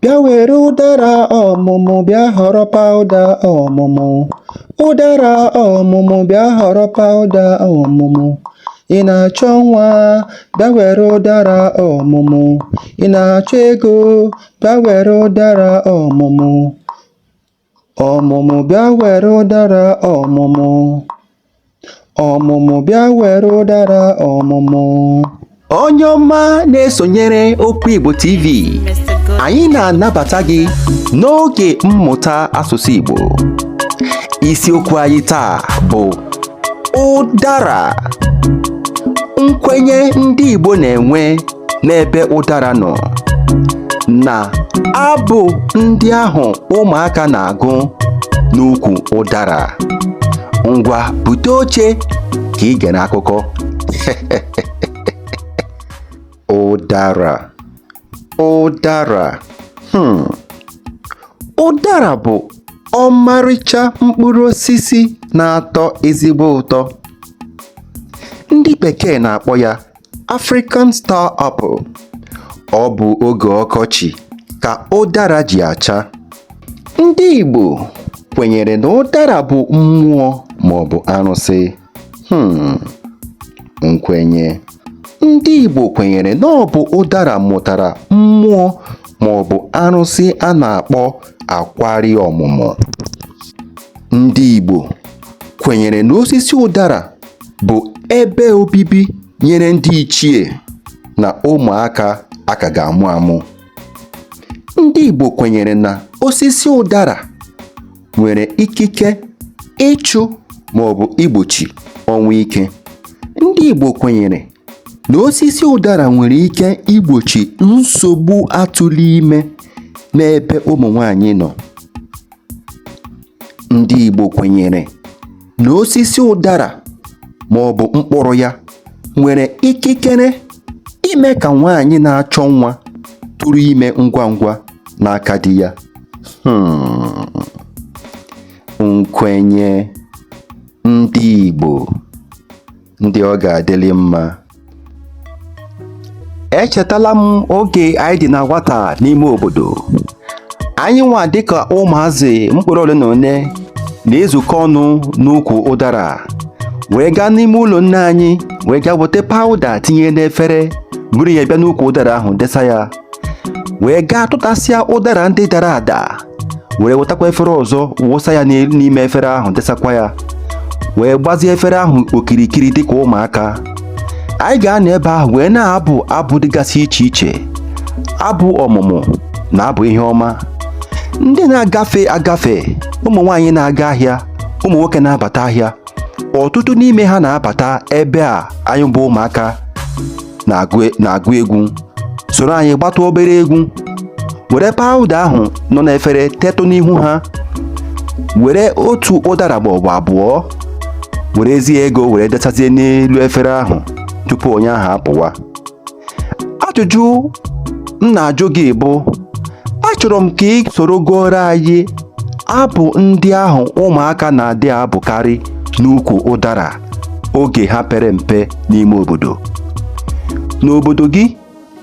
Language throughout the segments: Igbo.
Bịa were ụdara ọmụmụ bịa họrọ pawụda ọmụmụ. Ụdara ọmụmụ bịa họrọ pawụda ọmụmụ. Ị na-achọ nwa bịa were ụdara ọmụmụ. Ị na-achọ ego bịa were ụdara ọmụmụ. Ọmụmụ bịa were ụdara ọmụmụ. Ọmụmụ bịa were ụdara ọmụmụ. Onye ọma na-esonyere Okwu Igbo TV, anyị na-anabata gị n'oge mmụta asụsụ Igbo. Isiokwu anyị taa bụ ụdara nkwenye ndị Igbo na-enwe n'ebe ụdara nọ na abụ ndị ahụ ụmụaka na-agụ n'ukwu ụdara ngwa bute oche ka ị gere akụkọ ụdara ụdara hmm. ụdara bụ ọmarịcha mkpụrụ osisi na-atọ ezigbo ụtọ ndị bekee na-akpọ ya African Star Apple ọ bụ oge ọkọchị ka ụdara ji acha ndị Igbo kwenyere na ụdara bụ mmụọ maọbụ arụsị Hmm, nkwenye ndị Igbo kwenyere na ọ bụ ụdara mụtara mmụọ ma ọ bụ arụsị a na-akpọ akwari ọmụmụ ndị Igbo kwenyere na osisi ụdara bụ ebe obibi nyere ndị ichie na ụmụaka a ka ga-amụ amụ ndị Igbo kwenyere na osisi ụdara nwere ikike ịchụ ma ọ bụ igbochi ọnwụ ike ndị Igbo kwenyere na osisi ụdara nwere ike igbochi nsogbu atụrụ ime n'ebe ụmụ nwanyị nọ ndị Igbo kwenyere na osisi ụdara ma ọ bụ mkpụrụ ya nwere ikikere ime ka nwaanyị na-achọ nwa tụrụ ime ngwa ngwa n'aka di ya hmm. nkwenye ndị Igbo ndị ọ ga-adịlị mma echetala m oge anyị dị na nwata n'ime obodo anyị nwa dịka ụmụazị mkpụrụ ole na ole na-ezukọ ọnụ n'ukwu ụdara wee gaa n'ime ụlọ nne anyị wee gaa weta pawụda tinye n'efere buru ya bịa n'ukwu ụdara ahụ desa ya wee gaa tụtasịa ụdara ndị dara ada were wetakwa efere ọzọ wụsa ya n'elu n'ime efere ahụ desakwa ya wee gbazie efere ahụ okirikiri dịka ụmụaka anyị ga-anọ ebe ahụ wee na-abụ abụ dịgasị iche iche abụ ọmụmụ na abụ ihe ọma ndị na-agafe agafe ụmụ nwaanyị na-aga ahịa ụmụ nwoke na-abata ahịa ọtụtụ n'ime ha na-abata ebe a anyị bụ ụmụaka na-agụ egwu soro anyị gbatụ obere egwu were pawụda ahụ nọ n'efere tetụ n'ihu ha were otu ụdara ma ọbụ abụọ werezie ego were desazie n'elu efere ahụ tupu onye ahụ apụwa ajụjụ m na-ajụ gị bụ achọrọ m ka ị soro gụọrọ anyị abụ ndị ahụ ụmụaka na-adị abụkarị n'ukwu ụdara oge ha pere mpe n'ime obodo n'obodo gị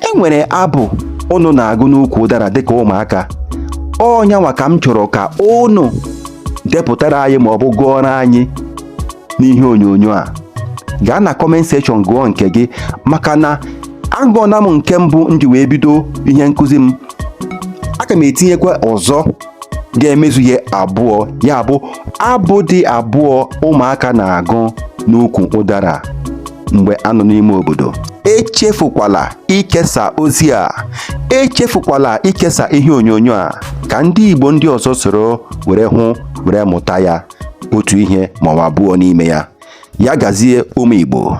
e nwere abụ ụnụ na-agụ n'ukwu ụdara dịka ụmụaka ọ nyanwa ka m chọrọ ka ụnụ depụtara anyị ma ọ bụ gụọrọ anyị n'ihe onyonyo a gaa na comment section gụọ nke gị maka na agụọna m nke mbụ m ji wee bido ihe nkụzi m aga m etinyekwa ọzọ ga-emezu ihe abụọ ya bụ abụ dị abụọ ụmụaka na-agụ n'ukwu ụdara mgbe a nọ n'ime obodo echefukwala ikesa ozi a echefukwala ikesa ihe onyonyo a ka ndị Igbo ndị ọzọ soro were hụ were mụta ya otu ihe ma ọ abụọ n'ime ya ya gazie ụmụ Igbo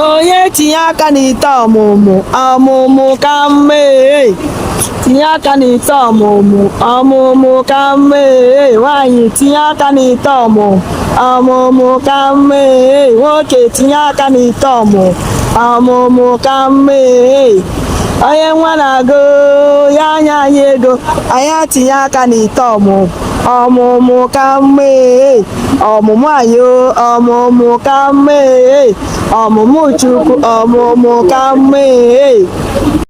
onye tinye aka n'ite ọmụmụ ọmụmụ ka mma ee tinye aka n'ite ọmụmụ ọmụmụ ka mma ee nwaanyị tinye aka n'ite ọmụmụ ọmụmụ ka mma ee nwoke tinye aka n'ite ọmụmụ ọmụmụ ka mma ee onye nwa na-agụ ya nye anyị ego anyị etinye aka n'ite ọmụmụ ọmụmụ ka mma ee ọmụmụ ayo ọmụmụ ka mma ee ọmụmụ Chukwu ọmụmụ ka mma ee